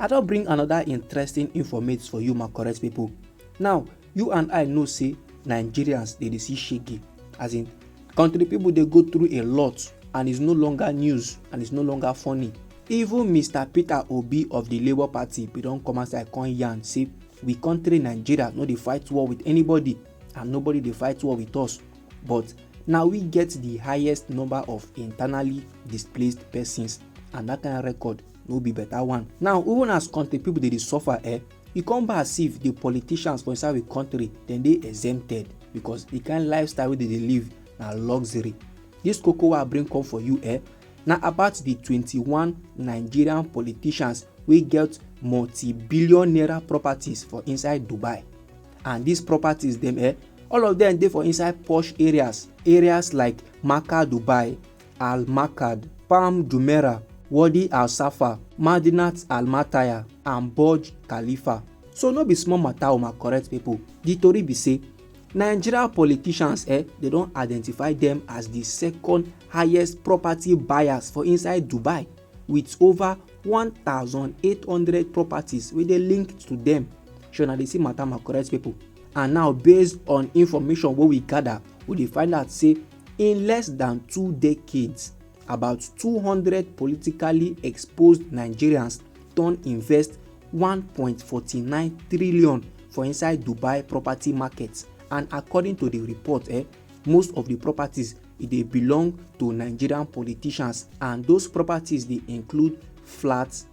I don bring another interesting informate for you my correct people. Now, you and I know say Nigerians dey dey see shege as in country people dey go through a lot and it's no longer news and it's no longer funny. Even Mr Peter Obi of the Labour Party bin don come outside come yarn say we country Nigeria no dey fight war with anybody and nobody dey fight war with us but na we get the highest number of internally displaced persons and that kind record no be better one now even as country people dey dey suffer eh e come be as if the politicians for inside the country dem dey exempted because the kind lifestyle wey dem dey live na luxury this koko wey i bring come for you eh na about the 21 nigerian politicians wey get multi-billion naira properties for inside dubai and these properties dem eh all of them dey for inside posh areas areas like makkah dubai Al-Makad, Palm Jumeirah, Wadi al-Safa, Madinat al-Mataya and Burj Khalifa. So no be small matter o my correct people. The tori be say Nigeria politicians eh, they don identify them as the second highest property buyers for inside Dubai with over 1,800 properties wey dey linked to them. Shey una dey see matter my correct people. And now based on information wey we gather, we dey find out say In less than two decades, about 200 politically exposed Nigerians don invest 1.49 trillion for inside Dubai property market and according to the report, eh, most of the properties e dey belong to Nigerian politicians and those properties dey include flats,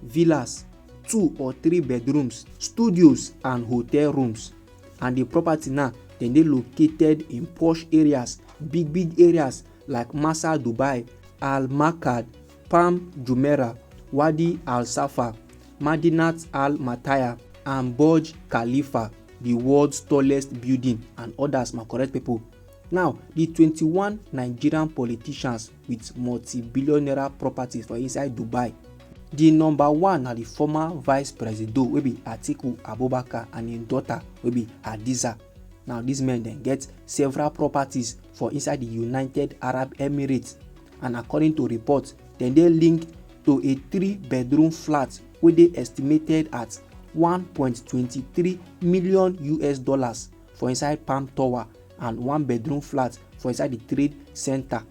villas, two or three bedrooms, studios and hotel rooms and the property now dem dey located in posh areas, big big areas like Masa Dubai, Al Makad, Palm Jumeirah, Wadi Al Safa, Madinat Al Mataya and Burj Khalifa, the world's tallest building and others my correct people. Now, the 21 Nigerian politicians with multi-billion naira properties for inside dubai di number one na di former vice presido wey be atiku abubakar and im daughter wey be hadiza now dis men dem get several properties for inside di united arab emirates and according to reports dem dey linked to a three bedroom flat wey dey estimated at 1.23 million us dollars for inside Palm Tower and one bedroom flat for inside the trade center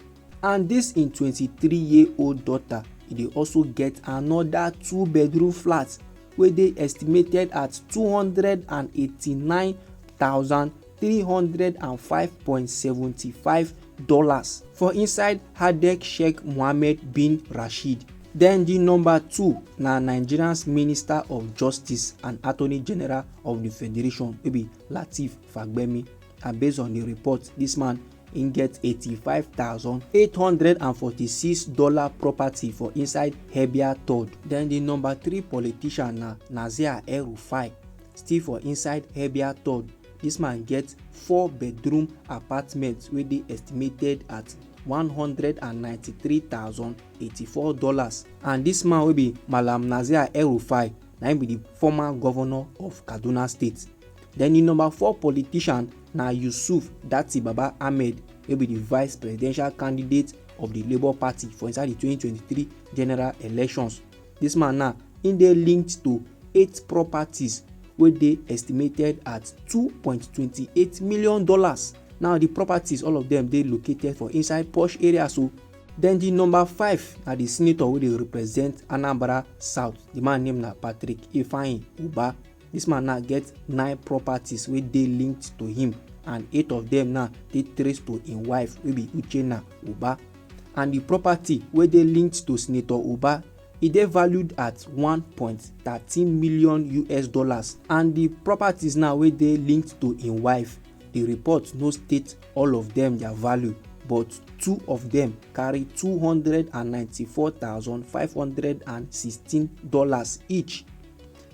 and this im 23 year old daughter e dey also get another two bedroom flat wey dey estimated at 289,305.75 dollars for inside Hadek Sheikh Mohammed bin Rashid. Then di number two na Nigeria's Minister of Justice and Attorney General of di federation wey be lateef fagbemi and based on di report dis man im get eighty-five thousand eight hundred and forty-six dollar property for inside herbia third den di number three politician na nazir el-rufai still for inside herbia third dis man get four bedroom apartment wey dey estimated at one hundred and ninety-three thousand eighty-four dollars and dis man wey be malam nazir el-rufai na im be the former governor of kaduna state then the number four politician na yusuf datti baba ahmed wey be the vice presidential candidate of the labour party for inside the 2023 general elections this man now im dey linked to eight properties wey dey estimated at 2.28 million dollars now the properties all of them dey located for inside posh areas o. Oh. Then the number five na the senator wey dey represent Anambra South. The man name na Patrick Ifeanyi Uba. This man now get nine properties wey dey linked to him and eight of them now dey traced to him wife wey be Uchenna Uba. And the property wey dey linked to Senator Uba e dey valued at 1.13 million US dollars and the properties now wey dey linked to him wife, the report no state all of dem their value but two of dem carry two hundred and ninety-four thousand five hundred and sixteen dollars each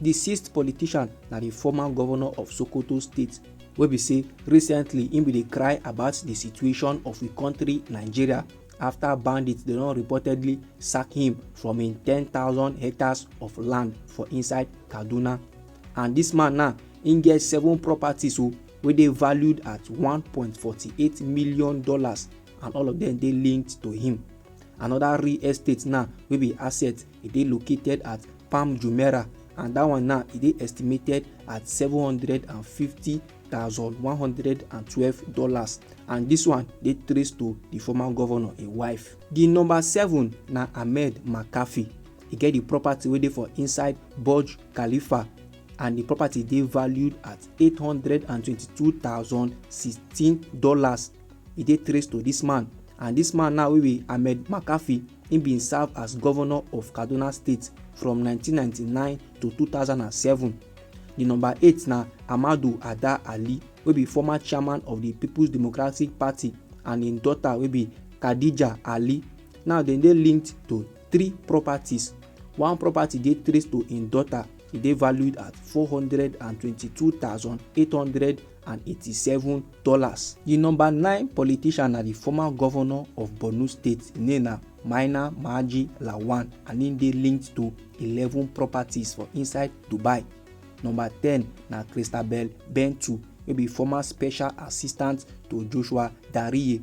di sixth politician na di former governor of sokoto state wey be say recently im bin dey cry about di situation of di country nigeria afta bandits dey don reportedly sack him from im ten thousand hectares of land for inside kaduna and dis man now im get seven properties o oh, wey dey valued at $1.48 million and all of them dey linked to him. Another real estate now wey be asset e dey located at Palm Jumeirah and that one now e dey estimated at seven hundred and fifty thousand one hundred and twelve dollars and this one dey traced to the former governor im wife. The number seven na Ahmed McAfee. E get the property wey dey for inside Burj Khalifa and the property dey valued at eight hundred and twenty-two thousand sixteen dollars e dey traced to this man and this man now wey be ahmed makafi he bin serve as governor of kaduna state from nineteen ninety-nine to two thousand and seven di number eight na amadu ada ali wey be former chairman of di peoples democratic party and im daughter wey be khadija ali now dem dey linked to three properties. One property dey traced to im daughter, e dey valued at four hundred and twenty-two thousand eight hundred and eighty-seven dollars. Di number nine politician na di former govnor of Borno State, im name na Maina Maji Lawan and im dey linked to eleven properties for inside Dubai. Number ten na Christabel Bentu wey be former special assistant to Joshua Dariye.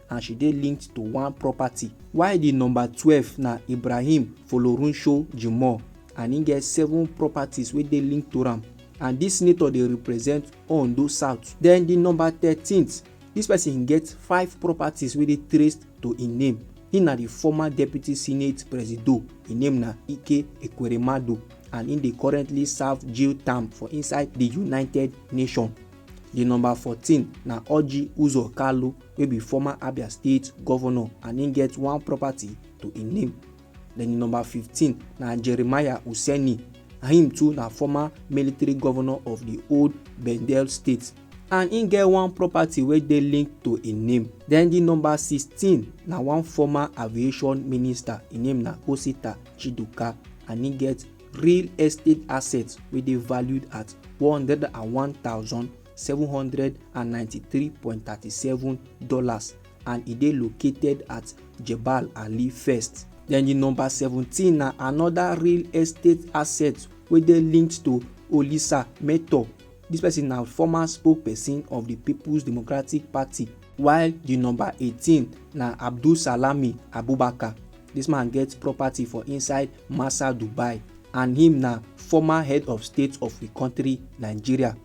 and she dey linked to one property while di number twelve na ibrahim folorunsho jimoh and im get seven properties wey dey linked to am and dis senator dey represent ondo south den di number thirteen dis person get five properties wey dey traced to im name im na di former deputy senate presido im name na ike ekweremadu and im dey currently serve jail term for inside di united nations di number fourteen na orji uzor kalu wey be former Abia State governor and im get one property to im name. Then di number fifteen na Jeremiah Useni and him too na former military governor of di old Bendel state and im get one property wey dey linked to im name. Then di number sixteen na one former aviation minister, im name na Osita Chiduka and im get real estate assets wey dey valued at one hundred and one thousand $793.37 and e dey located at Jebel Ali First. Then the number 17 na another real estate asset wey dey linked to Olisa Meto. This person na former spokesperson of the People's Democratic Party while the number 18 na Abdul Salami Abubakar. This man get property for inside Masa Dubai and him na former head of state of the country Nigeria.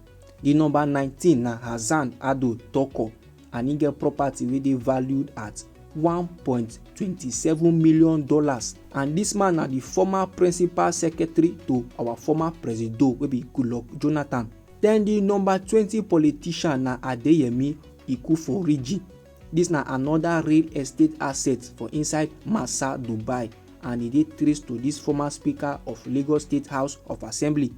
Di number nineteen na Hassan Ado Toko and im get property wey dey valued at one point two seven million dollars and dis man na di former principal secretary to our former presido wey be Goodluck Jonathan. Den di number twenty politician na Adeyemi Ikuforiji. Dis na anoda real estate asset for inside Massa Dubai and e dey traced to dis former speaker of Lagos State House of Assembly.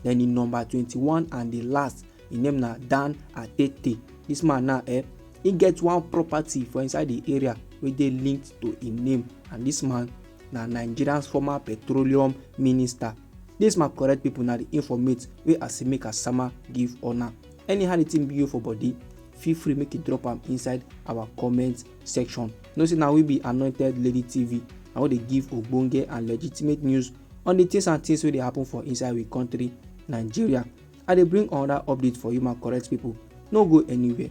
then the number 21 and the last im name na dan atete this man now eh he get one property for inside the area wey dey linked to im name and this man na nigeria's former petroleum minister this my correct people na the informate wey asimi kasama give una anyhow the thing be you for body feel free make you drop am inside our comment section know say na we be anointed lady tv na we dey give ogbonge and legitimate news on the things and things wey dey happen for inside we country nigeria i dey bring another update for you my correct people no go anywhere